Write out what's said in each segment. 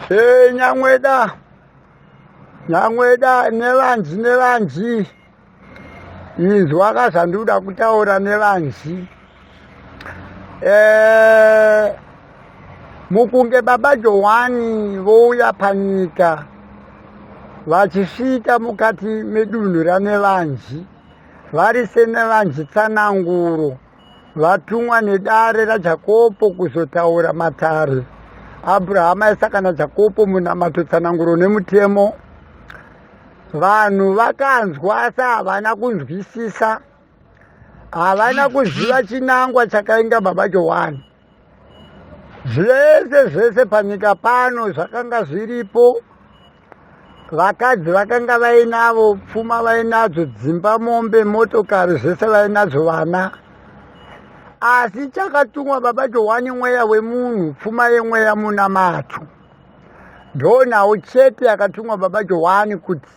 Hey, Nyangweda. Nyangweda nevanzi nevanzi. Inzwa kazanduda kutaura nevanzi. Eh mukunge baba Johwani vouya panyika vachisvika mukati medunhu raNevanzi vari seNevanzi tsananguro vatumwa nedare rajakopo kuzotaura matare abrahama aisaka najakopo munamato tsananguro nemutemo vanhu vakanzwa asi havana kunzwisisa havana kuziva chinangwa chakainga baba johani zvese zvese panyika pano zvakanga zviripo vakadzi vakanga vainavo pfuma vainadzo dzimba mombe motokari zvese vainadzo vana asi chakatumwa baba johwani mweya wemunhu pfuma yemweya munamato ndonawo chete yakatumwa baba johwani kuti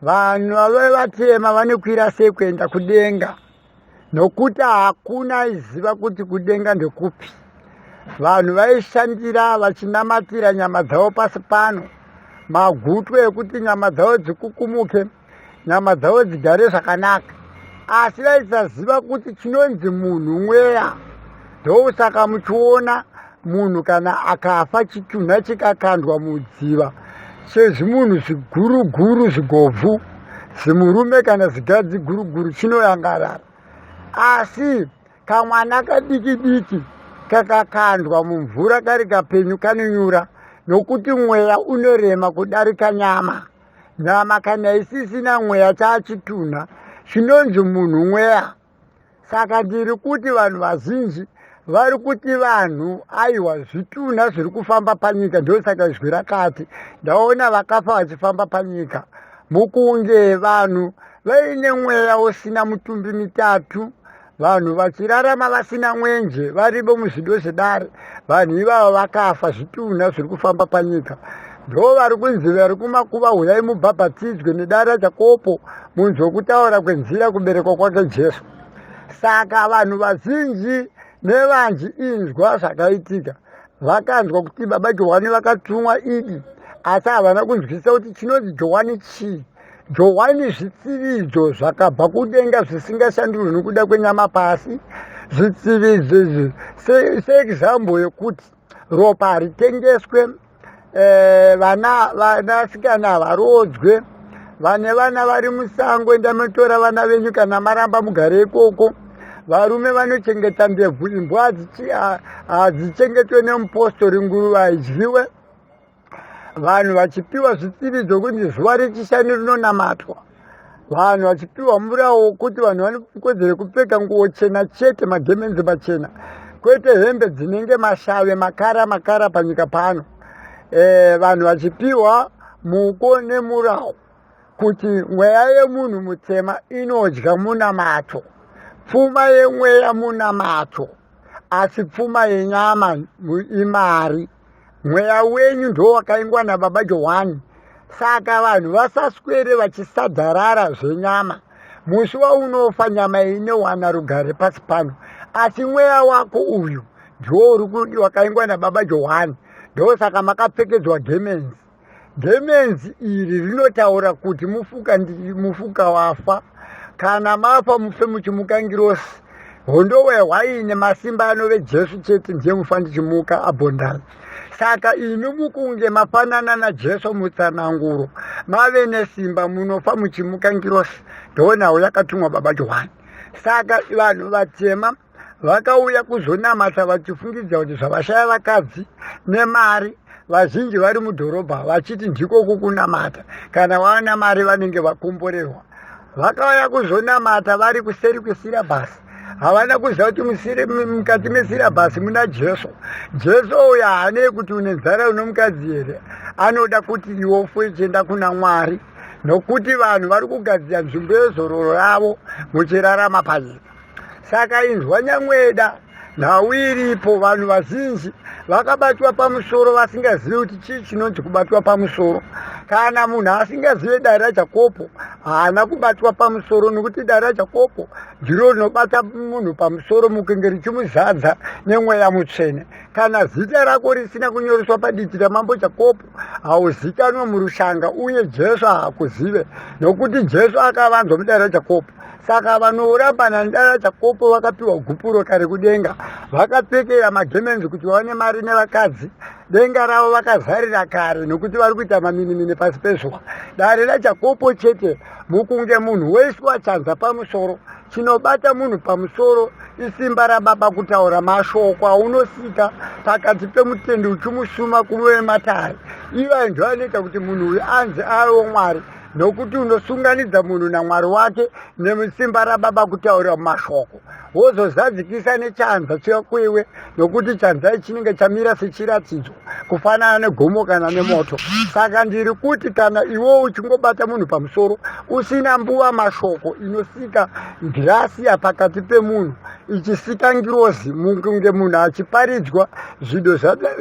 vanhu vave vatema vanokwira sei kuenda kudenga nokuti hakuna aiziva kuti kudenga ndekupi vanhu vaishandira vachinamatira nyama dzavo pasi pano magutu ekuti nyama dzavo dzikukumuke nyama dzavo dzigare zvakanaka asi vaisaziva kuti chinonzi munhu mweya ndosaka muchiona munhu kana akafa chitunha chikakandwa mudziva sezvimunhu zviguruguru zvigobvu zimurume kana zigadzi guruguru chinoyangarara asi kamwana kadiki diki kakakandwa mumvura kari kapenyu kanonyura nokuti mweya unorema kudarika nyama nyama kana isisina mweya chaachitunha chinonzi munhu mweya saka ndiri kuti vanhu vazhinji vari kuti vanhu aiwa zvitunha zviri kufamba panyika ndosaka izwi rakati ndaona vakafa vachifamba panyika mukunge vanhu vaine mweya usina mutumbi mitatu vanhu vachirarama vasina mwenje varivo muzvido zvedare vanhu ivavo vakafa zvitunha zviri kufamba panyika Ndo vari kunzi vari kumakuva huyai mubhabhatidzwe nedare raJakopo munzwe kutaura kwenzira kuberekwa kwake Jesu. Saka vanhu vazhinji nevanji inzwa zvakaitika vakanzwa kuti baba Johwani vakatumwa idi asi havana kunzwisisa kuti chinonzi Johwani chii. Johwani zvitsividzo zvakabva kudenga zvisingashandurwi nokuda kwenyama pasi. Zvitsividzo izvi seexample yekuti ropa haritengeswe eh, vana vanasikana havaroodzwe vane vana vari musango enda motora vana venyu kana maramba mugare ikoko varume vanochengeta ndebvu imbwa hadzichengetwe nemupostori nguruva haidyiwe vanhu vachipiwa zvitsivi zvokunzi zuva rechishanu rinonamatwa vanhu vachipiwa mvura wokuti vanhu vane kodzero yekupfeka nguvo chena chete magemenzi machena kwete hembe dzinenge mashave makara makara panyika pano e, vanhu vachipiwa muko nemurawo kuti mweya yemunhu mutsema inodya munamato pfuma yemweya munamato asi pfuma yenyama imari mweya wenyu ndo wakaingwa nababa johani saka vanhu vasaswere vachisadzarara zvenyama musi waunofa nyama inowana rugare pasi pano asi mweya wako uyu ndiwo uri kudi wakaingwa nababa johani ndosaka makapfekedzwa gemenzi Gemenzi iri rinotaura kuti mufuka ndi mufuka wafa kana mafa mufe muchimuka ngirosi hondowe hwaine masimba anove jesu chete ndiye mufa ndichimuka abhondai saka imi mukunge mafanana najesu mutsananguro mave nesimba munofa muchimuka ngirosi ndoonawo yakatumwa baba johani saka vanhu vatema vakauya kuzonamata vachifungidzira kuti zvavashaya vakadzi nemari vazhinji vari mudhorobha vachiti ndiko kukunamata kana vaona mari vanenge vakomborerwa vakauya kuzonamata vari kuseri kwesirabhasi havana kuziva kuti mukati mesirabhasi muna jesu jesu uyo haanei kuti une nzara uno mukadzi here anoda kuti iwo fuechienda kuna mwari nokuti vanhu vari kugadzira nzvimbo yezororo ravo muchirarama panyika saka inzwa nyamweda nhau iripo vanhu vazhinji vakabatwa pamusoro vasingazivi kuti chii chinonzi kubatwa pamusoro kana munhu asingazive dare rajakopo haana kubatwa pamusoro nokuti dare rajakopo ndiro rinobata munhu pamusoro mukunge richimuzadza nemweya mutsvene kana zita rako risina kunyoreswa paditi ramambo jakopo hauzikanwe murushanga uye jesu haakuzive nokuti jesu akavanzwa mudara jakopo saka vanorambana ndara chakopo vakapiwa gupuro kare kudenga vakapfekera magemenzi kuti vaone mari nevakadzi denga ravo vakazarira kare nokuti vari kuita maminimini pasi pezuva dare rajakopo chete mukunge munhu wese wachanza pamusoro chinobata munhu pamusoro isimba rababa kutaura mashoko aunosika pakati pemutendi uchimusuma kuve matare iva ndo anoita kuti munhu uyu anzi aiwo mwari nokuti unosunganidza munhu namwari wake nemusimba rababa kutaura mashoko wozozadzikisa nechanza chekuiwe nokuti chanzai chinenge chamira sechiratidzo kufanana negomo kana nemoto saka ndiri kuti kana iwewo uchingobata munhu pamusoro usina mbuva mashoko inosika ndirasiya pakati pemunhu ichisika ngirozi kunge munhu achiparidzwa zvido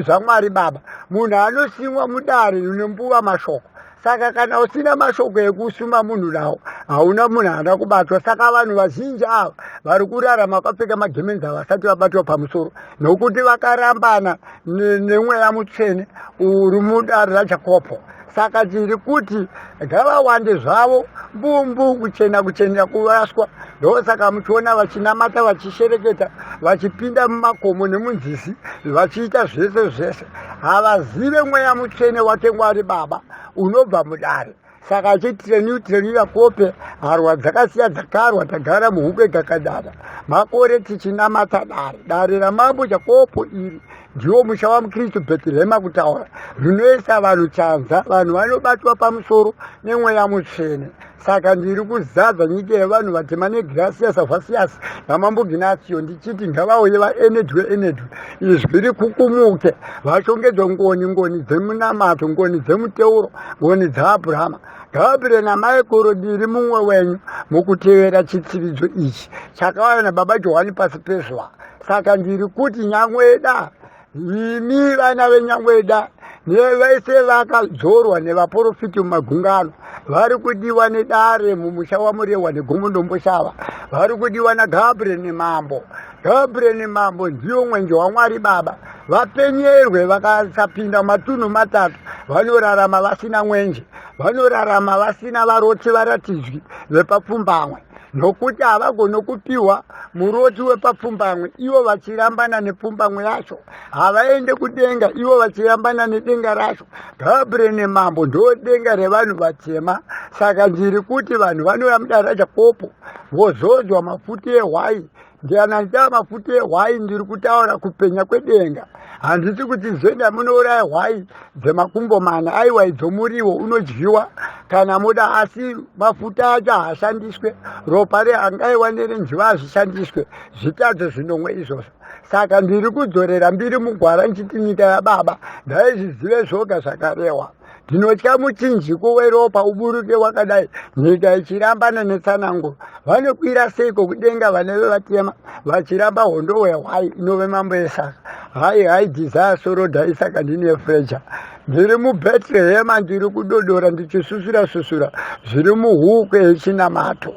zvamwari baba munhu anosimwa mudare ine mbuva mashoko saka kana usina mashoko ekusuma munhu nawo hauna munhu haana kubatwa saka vanhu vazhinji ava vari kurarama vakapfeka magemenzi ava vasati vabatwa pamusoro nokuti vakarambana nemweya mutsvene uri mudare rajakopo saka tiri kuti ngavawande zvavo mbumbu kuchena kuchenera kuraswa ndosaka muchiona vachinamata vachishereketa vachipinda mumakomo nemunzizi vachiita zvese zvese havazive mweya mutsvene watengwa ari baba unobva mudare saka achitireniu tireniya kope harwa dzakasiya dzakarwa tagara muhupe gakadada makore tichinamata dare dare ramambo chakopo iri ndiwo musha wamukristu bheterehema kutaura rinoisa vanhu chanza vanhu vanobatwa pamusoro nemweya mutsvene saka ndiri kuzadza nyika yevanhu vatema negrasias avasias namambo ginasio ndichiti ngavauye vaenedwe enedwe izwi rikukumuke vashongedzwe ngoni ngoni dzemunamato ngoni dzemuteuro ngoni dzaabrahama ngavapire namaikuru diri mumwe wenyu mukutevera chitsiridzo ichi chakauya nababa johani pasi pezuva saka ndiri kuti nyangweda imi vana venyangweda nevese vakadzorwa nevaporofiti mumagungano vari kudiwa nedare mumusha wamurehwa negomo ndomboshava vari kudiwa nagabriel nemambo gabriel nemambo ndiwo mwenje wamwari baba vapenyerwe vakasapinda matunhu matatu vanorarama vasina mwenje vanorarama vasina varoti varatidzwi vepapfumbamwe nokuti havagoni kupiwa muroti wepapfumbamwe ivo vachirambana nepfumbamwe yacho havaende kudenga ivo vachirambana nedenga racho gabriel nemambo ndo denga revanhu vatema saka ndiri kuti vanhu vanouya mudara jakopo vozodzwa mafuti ehwai Ndianaita mafuta ehwai ndiri kutaura kupenya kwedenga. Handiti kuti zvenda munouraya hwai dzemakumbo mana aiwa idzo muriwo unodyiwa kana moda asi mafuta acho haashandiswe ropa reangaiwa nerenjiva hazvishandiswe zvitadzo zvinomwe izvozvo saka ndiri kudzorera mbiri mugwara nchiti nyika yababa ndaizvizive zvoga zvakarehwa ndinotya muchinjiko weropa uburuke wakadai nyika ichirambana netsanango vanokwira seiko kudenga vaneve vatema vachiramba hondo wehwai inove mambo esaka hai hai dhizaya soroda isaka ndine freja ndiri mubetrehema ndiri kudodora ndichisusura susura zviri muhuku yechinamato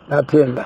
ndatenda